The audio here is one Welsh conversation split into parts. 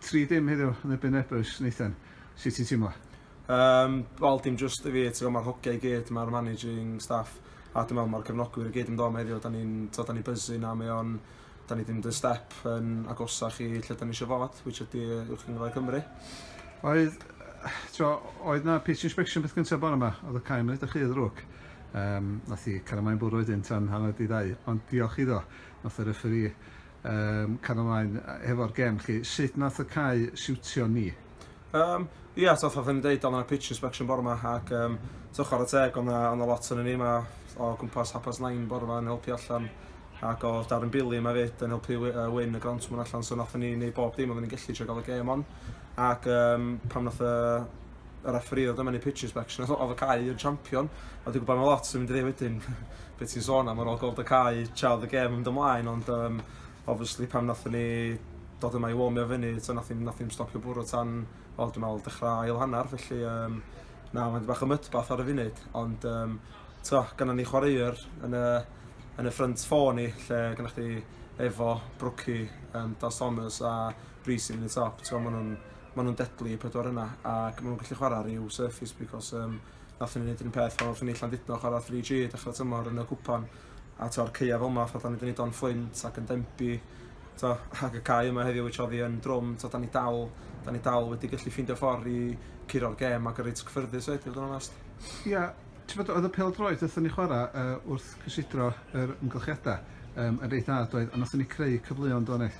3 dim heddiw yn erbyn Ebrus, Nathan. Sut ti'n teimlo? Um, Wel, dim just i fi, ti'n gwybod, mae'r hogiau i gyd, mae'r managing staff, a dwi'n meddwl mae'r cefnogwyr i gyd yn dod am heddiw, da ni'n da ni byzu na, mae o'n, da ni ddim dy step yn agosach i lle da ni eisiau fod, which ydy Uwch Gyngrair Cymru. Oedd, tro, oedd na pitch inspection beth gyntaf bore yma, oedd y cael mynd ydych chi ddrwg. Um, nath i caramau bwrw wedyn tan hanner di ddau, ond diolch iddo, nath y referi Yym, cario ymlaen hefo'r gem chi. Sut nath y cae siwtio ni? Um, Ie, yeah, so fatha ddim deud, ond yna pitch inspection bore yma, ac um, so chwarae teg, ond yna lot yn ni yma o gwmpas hapas nain bore yma yn helpu allan, ac o Darren Billy yma fyd yn helpu uh, win y grant mwyn allan, so nath ni wneud bob dim, ond ni'n gallu trwy gael y gem on, ac um, pam nath y y refferî oedd yma yn ei pitch inspection, oedd oedd y cae yn champion, a dwi'n gwybod mae lot yn mynd i ddweud wedyn beth sy'n sôn am ar ôl gweld y cae, chael y gem yn dy mlaen, ond um, obviously pan nath ni dod yma i womio fyny, so nath ni'n stopio bwrw tan, o dwi'n meddwl, dechrau ail hanner, felly um, na, mae'n bach o mydbath ar y funud, ond um, to, gynna ni chwaraewr yn y, yn y ffrynt ffôn ni, lle gynna chdi efo Brookie, um, Das Thomas a Bree sy'n mynd i top, ti'n meddwl, maen nhw'n ma' nhw'n deadly y pedwar yna ac ma' nhw'n gallu chwarae rhyw surface because um, nath ni wneud yr un peth o'r ffynnu Llandudno chwarae 3G dechrau tymor yn y cwpan a to'r ceia fel yma fatha ni wedi wneud o'n fflint ac yn dembu to, ac y cae yma heddiw which oedd hi yn drwm to, da ni dal da ni dal wedi gallu ffeindio ffordd i curo'r gêm ac yn reit cyffyrddus oed i fod yn onest. Ia, yeah, ti'n fod oedd y pel droed wrthyn ni chwarae uh, wrth cysidro yr ymgylchiadau um, yn reit dda doedd a nath ni creu cyfleon do'n eich?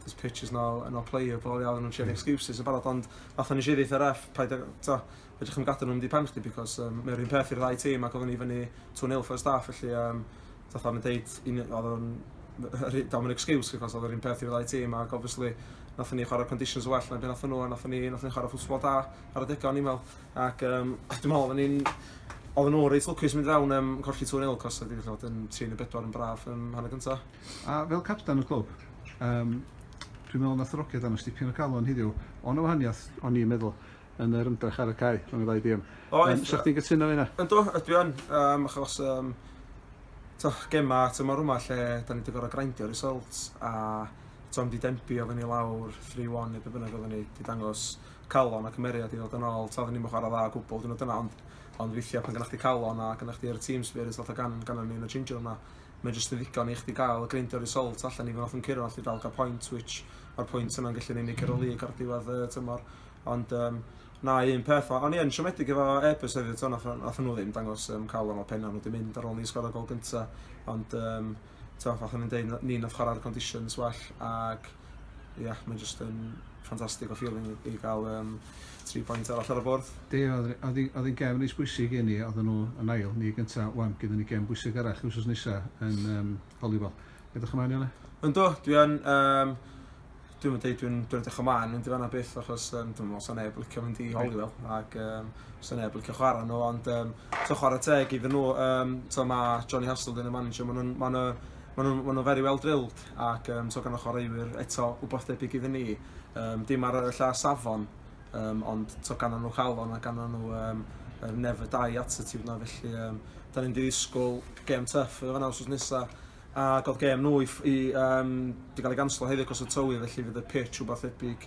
there's pictures now and I'll play you, fel i alw nhw'n trio excuses yn barod, ond fatha nes i ddeitha ref, paid ag, ta, edrych am gadw nhw'n di pen chdi, because um, mae'n rhywun peth i'r ddau tîm ac oedden ni fyny 2-0 first half, felly um, fatha o'n i'n deud, oedd o'n, dawn yn excuse, because oedd o'n peth i'r ddau tîm, ac obviously, nath ni chwarae conditions well na beth nath nhw, a nath ni, nath ni chwarae ffwsbol da ar y degau o'n i'n meddwl, ac um, dwi'n meddwl, oedden ni'n, oedden nhw reit lwcus mynd fewn um, colli 2-0, cos oedd wedi bod yn 3 neu 4 yn braf um, hanner gyntaf. A fel capten y clwb, yym, dwi'n meddwl nath y Rogiad dangos dipyn o galon heddiw, o' 'na wahaniath, o'n i'n meddwl, yn yr ymdrech ar y cae rhwng y ddau dîm. Oedd. 'Sech chdi'n cytuno efo hynna? Yndw, dwi yn, yym, achos, yym, t'oh, gema tymor yma lle 'dan ni 'di gor'o' grindio results a t'o' mynd i denbi oddan ni lawr three one ne' be' bynnag oddan ni, 'di dangos calon a cymeriad i ddod yn ôl, t'o' oddan ni'm yn chwara dda o gwbwl diwrnod yna ond ond weithia' pan gynna chdi calon a gynna chdi yr team spirit fatha gan- gannon ni yn y changing room 'na, mae jyst yn ddigon i chdi gael greindio result allan i fo off yn curo allu dal gael point which mae'r pwynt yna'n gallu'n unig ar y lig ar diwedd y tymor ond um, na un peth o ond ie yn siomedig efo Airbus hefyd so nath nhw ddim dangos um, cael o'n o penna nhw wedi mynd ar ôl ni sgor o gol gynta ond um, ti'n fath o'n i'n dweud ni nath chwarae'r conditions well ac ia, mae'n just yn ffantastig o feeling i, i gael um, tri pwynt arall ar y bwrdd. Di, oedd hi'n gem yn eis bwysig i ni, oedd nhw yn ail, ni gyntaf, wan, gyda ni gem bwysig arall wrth nesa yn um, Hollywood. Edrych ymlaen yna? Ynddo, dwi yn, um, dwi'n mynd dweud, dwi'n dwi edrych ymlaen mynd i fanna byth, achos um, dwi'n meddwl sy'n neb licio mynd i Hollywood, ac um, sy'n neb licio chwarae nhw, ond um, to chwarae teg iddyn nhw, um, to mae Johnny Hasselden yn manager, maen nhw'n ma ma nhw, ma nhw very well drilled, ac yym so gan y chwaraewyr eto wbath debyg iddyn ni yym dim ar y lla safon yym ond t'o' ganddon nhw calon a ganddon nhw yym yr never die attitude 'na felly yym 'dan ni'n mynd i ddisgwl gêm tuff yn fanna wsos nesa ag o'dd gêm nhw i ff- i yym 'di ga'l ei ganslo heddi acos y tywy felly fydd y pitch wbath debyg